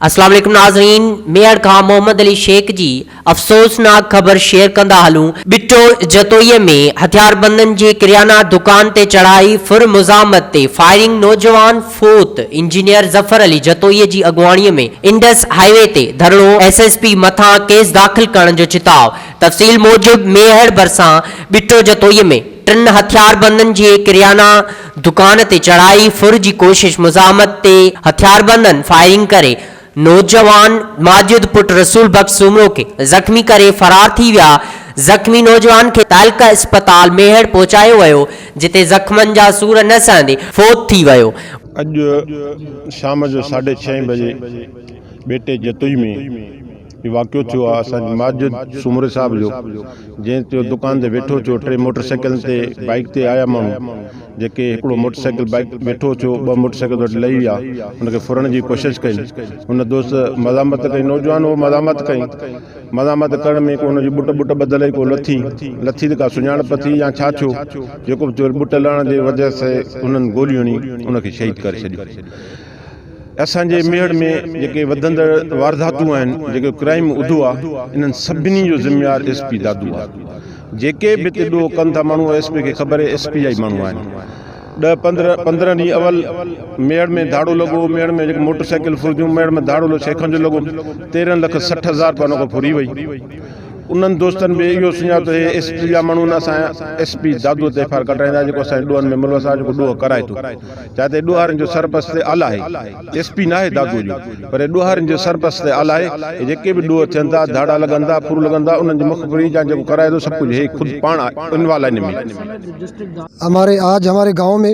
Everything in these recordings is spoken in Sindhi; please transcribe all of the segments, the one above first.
السلام عليڪم ناظرين ميهڙ کان محمد علي شيخ جي افسوسناڪ خبر شيئر ڪندا هلون ٻٽو جتوئي ۾ هٿياربندن جي ڪريانا دڪان تي چڙهائي ڦر مزاحمت تي فائرنگ نوجوان فوت انجنيئر ظفر علي جتوئي جي اڳواڻي ۾ انڊس هاء وي تي ڌرڻو ايس ايس پي مٿان ڪيس داخل ڪرڻ جو چتاء تفصيل موجب ميهڙ ڀرسان ٻٽو جتوئي ۾ ٽن هٿياربندن جي ڪريانا دڪان تي چڙهائي ڦر جي ڪوشش مزاحمت تي هٿياربندن فائرنگ ڪري نوجوان ماجد پٽ رسول بخش سومرو کي زخمي ڪري فرار ٿي ويا زخمي نوجوان کي تعلقه اسپتال ميهڙ پهچايو ويو جتي زخمن جا سور نه سهندي فوت ٿي ويو. اڄ شام جو ساڍي ڇهين بجي ٻيٽي جتوئي ۾ هي واقعو ٿيو آهي اسان جي ماجد سومري صاحب جو جنهن تي دڪان تي ويٺو ٿيو ٽي موٽر سائيڪلن تي بائيڪ تي آيا ماڻهو جيڪي هڪڙو موٽر سائيڪل بائيڪ ويٺو ٿيو ٻه موٽر سائيڪل وٽ لهي ويا ان کي ڦرڻ جي ڪوشش ڪئي ان دوست مزاحمت ڪئي نوجوان هو مزاحمت ڪئي مزاحمت ڪرڻ ۾ ڪو ان جي ٻٽ ٻٽ ٻڌل هئي ڪو لٿي لٿي ته ڪا سڃاڻپ ٿي يا ڇا ٿيو جيڪو به ٿيو ٻٽ لهڻ جي وجه سي انهن گولي هڻي ان کي شهيد ڪري ڇڏيو اسان جي ميهڙ ۾ جيڪي وڌندڙ وارداتون آهن، جيڪو ڪرائيم اڌو آ، انهن سڀني جو ذميوار ايس پي دادو آ. جيڪي به اتي ڏوهه ڪن ٿا ماڻهو ايس پي کي خبر هي ايس پي جا ئي ماڻهو آهن. ڏهه پندرهن پندرهن ڏينهن اول ميهڙ ۾ ڌاڙو لڳو، ميهڙ ۾ جيڪي موٽر سائيڪل ڦرنديون، ميهڙ ۾ ڌاڙو لڳو شيخن جو لڳو، تيرهن لک سٺ هزار رپيا ان کان ڦري وئي. انهن دوستن به اهو سڃاتو هي ايس پي جا ماڻهو آهن، اسان ايس پي دادو تي ايف آء آر ڪٽرائيندا جيڪو اسان جي ڏوهن ۾ ملوث آ، جيڪو ڏوهه ڪرائي ٿو. جتي ڏوهارين جو سرپرست اعليٰ آهي، ايس پي ناهي دادوء جو، پر ڏوهارين جو سرپرست اعليٰ آهي ۽ جيڪي به ڏوهه ٿين ٿا، ڌاڙا لڳن ٿا، ڦرون لڳن ٿا، انهن جي مخبري يا جيڪو ڪرائي ٿو، سڀ ڪجهه هي خود پاڻ انوالو آهي ان ۾. هماري آج هماري گائون ۾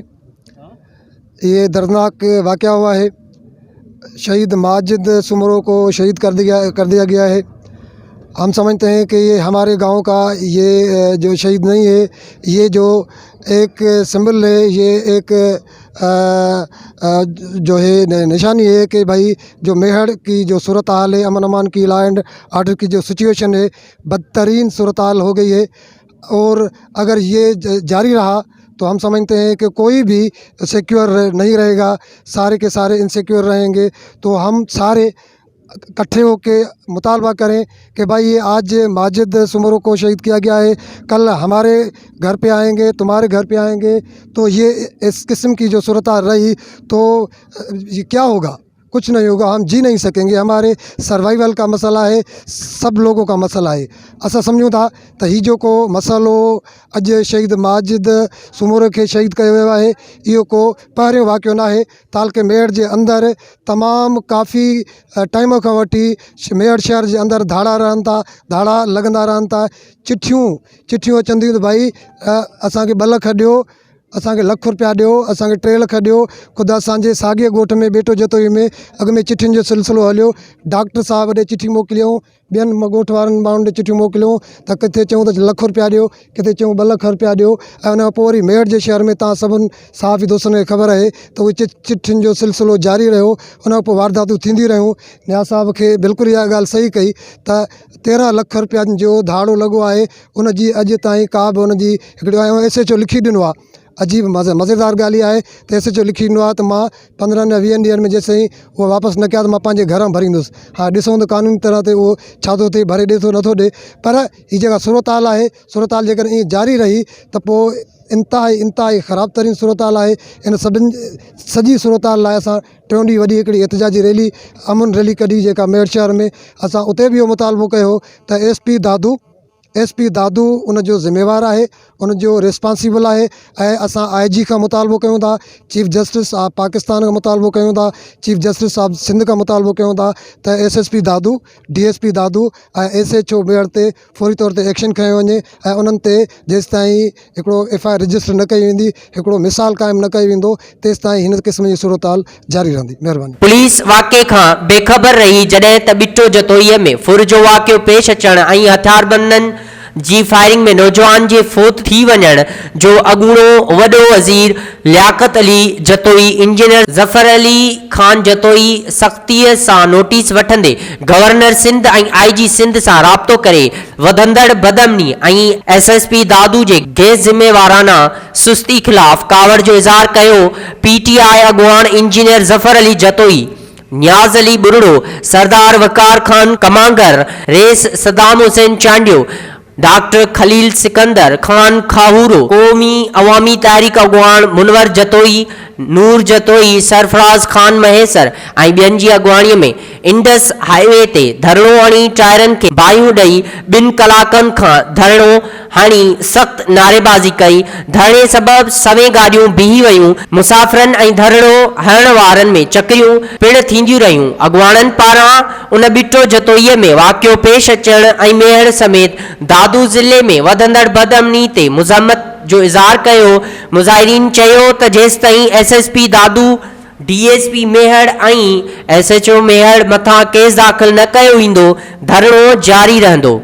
اهي دردناڪ واقعا هئا هي. شھيد ماجد سومرو ڪو شھيد ڪر ديا ڪر ديا گيا ھي ھم سمجھتي ھي ڪي يي ھماري گائون ڪا يي جو شھيد نھي ھي يي جو ايڪ سمبل ھي يي ايڪ جو ھي نشاني ھي ڪي ڀئي جو ميھڙ ڪي جو صورت حال ھي امن امان ڪي لا اينڊ آرڊر ڪي جو سچويشن ھي بدترين صورت حال ھو گئي ھي اور اگر يي جاري رها تو هم سمجهتي هي ڪي ڪوئي بي سيڪيور نهي رهي گا ساري ڪي ساري ان سيڪيور رهين گي تو هم ساري ڪٺي هو ڪي مطالبا ڪري ڪي بهائي يي آج ماجد سومرو ڪو شهيد ڪيا گيا هي ڪل هماري گهر پي آئين گي تمهاري گهر پي آئين گي تو يي اس قسم ڪي جو سورتحال رهي تو ڪيا هو گا ڪڇ نهي هوگا هم جي نهي سڪين گي هماري سروائيول ڪا مسئلا هي سڀ لوگو ڪا مسئلا هي اسان سمجهون ٿا ته هي جيڪو مسئلو اڄ شهيد ماجد سومرو کي شهيد ڪيو ويو آهي اهو ڪو پهريون واقعو ناهي تعلقي ميهڙ جي اندر تمام ڪافي ٽائيم کان وٺي ميهڙ شهر جي اندر ڌاڙا رهن ٿا ڌاڙا لڳندا رهن ٿا چٺيون چٺيون اچن ٿيون ته ڀائي اسانکي ٻه لک ڏيو اسان کي لک روپيا ڏيو، اسان کي ٽي لک ڏيو، خود اسان جي ساڳئي ڳوٺ ۾ ٻيٽو جتوئي ۾ اڳ ۾ چٺين جو سلسلو هليو، ڊاڪٽر صاحب ڏي چٺي موڪليائون، ٻين ڳوٺ وارن ماڻهن ڏي چٺيون موڪليائون ته ڪٿي چيائون ته لک روپيا ڏيو، ڪٿي چيائون ٻه لک روپيا ڏيو ۽ ان کان پوء وري ميرٺ جي شهر ۾ توهان سڀن صحافي دوستن کي خبر آهي ته اهي چ چٺين جو سلسلو جاري رهيو، ان کان پوء وارداتون ٿينديون رهيون، نياز صاحب کي بلڪل اها ڳالهه صحيح ڪئي ته تيرنهن لک روپين جو ڌاڙو لڳو آهي. ان جي اڄ تائين ڪا به ان جي هڪڙو آيو ايس ايچ او لکي ڏنو آ عجيب مزي مزيدار ڳالهه اها آهي ته ايس ايچ او لکي ڏنو آ ته مان پندرهن يا ويهن ڏينهن ۾ جيسين تائين هو واپس نه ڪيا ته مان پنهنجي گهر مان ڀريندس هاڻ ڏسون ته قانوني طرح تي هو ڇا ٿو ٿئي ڀري ڏي ٿو نٿو ڏي پر هي جيڪا صورت حال آهي صورت حال جيڪڏهن ائين جاري رهي ته پوء انتهائي انتهائي خراب ترين صورت حال آهي ان سڀن سڄي صورت حال لاء اسان ٽيون ڏينهن وڏي هڪڙي احتجاجي ريلي امن ريلي ڪڍي جيڪا ميڙ شهر ۾ اسان اتي به اهو مطالبو ڪيو هو ته S P Dadu S P Dadu ان جو ذميوار آهي ان جو ريسپانسيبل آهي ۽ اسان آء جي کان مطالبو ڪيون ٿا چيف جسٽس آف پاڪستان کان مطالبو ڪيون ٿا چيف جسٽس آف سنڌ کان مطالبو ڪيون ٿا ته S S P Dadu D S P Dadu ۽ S H O Mehar تي فوري طور تي ايڪشن کنيو وڃي ۽ انهن تي جيستائين هڪڙو ايف آء آر رجسٽر نه ڪئي ويندي هڪڙو مثال قائم نه ڪيو ويندو تيستائين هن قسم جي صورتحال جاري رهندي مهرباني. پوليس واقعي کان بي خبر رهي جڏهن ته ٻٽو جتوئي ۾ ڦر جو واقعو پيش اچڻ ۽ هٿياربندن جي فائرنگ ۾ نوجوان جي فوت ٿي وڃڻ جو اڳوڻو وڏو وزير لياقت علي جتوئي انجنيئر ظفر علي خان جتوئي سختي سان نوٽيس وٺندي governor Sindh ۽ I G Sindh سان رابطو ڪري وڌندڙ بدامني ۽ ايس ايس پي دادو جي غير ذميوارانه سستي خلاف ڪاوڙ جو اظهار ڪيو پي ٽي آء اڳواڻ انجنيئر ظفر علي جتوئي، نياز علي ٻرڙو، سردار وقار خان ڪمانگر، رئيس صدام حسين چانڊيو، ڊاڪٽر خليل سڪندر خان کاهورو، قومي عوامي تحريڪ اڳواڻ منور جتوئي، نور جتوئي، سرفراز خان مهيسر ۽ ٻين جي اڳواڻي ۾ انڊس هاء وي تي ڌرڻو هڻي ٽائرن کي باهيون ڏئي ٻن ڪلاڪن کان ڌرڻو هڻي سخت نعريبازي ڪئي، ڌرڻي سبب سوين گاڏيون بيهي ويون، مسافرن ۽ ڌرڻو هڻڻ وارن ۾ چڪريون پڻ ٿينديون رهيون، اڳواڻن پاران ان ٻٽو جتوئي ۾ واقعو پيش اچڻ ۽ ميهڙ سميت دادو ضلعي ۾ وڌندڙ بدامني تي مزاحمت جو اظهار ڪيو، مظاهرين چيو ته جيستائين S S P Dadu. D S P Mehar ۽ S H O Mehar مٿان ڪيس داخل نه ڪيو ويندو، ڌرڻو جاري رهندو.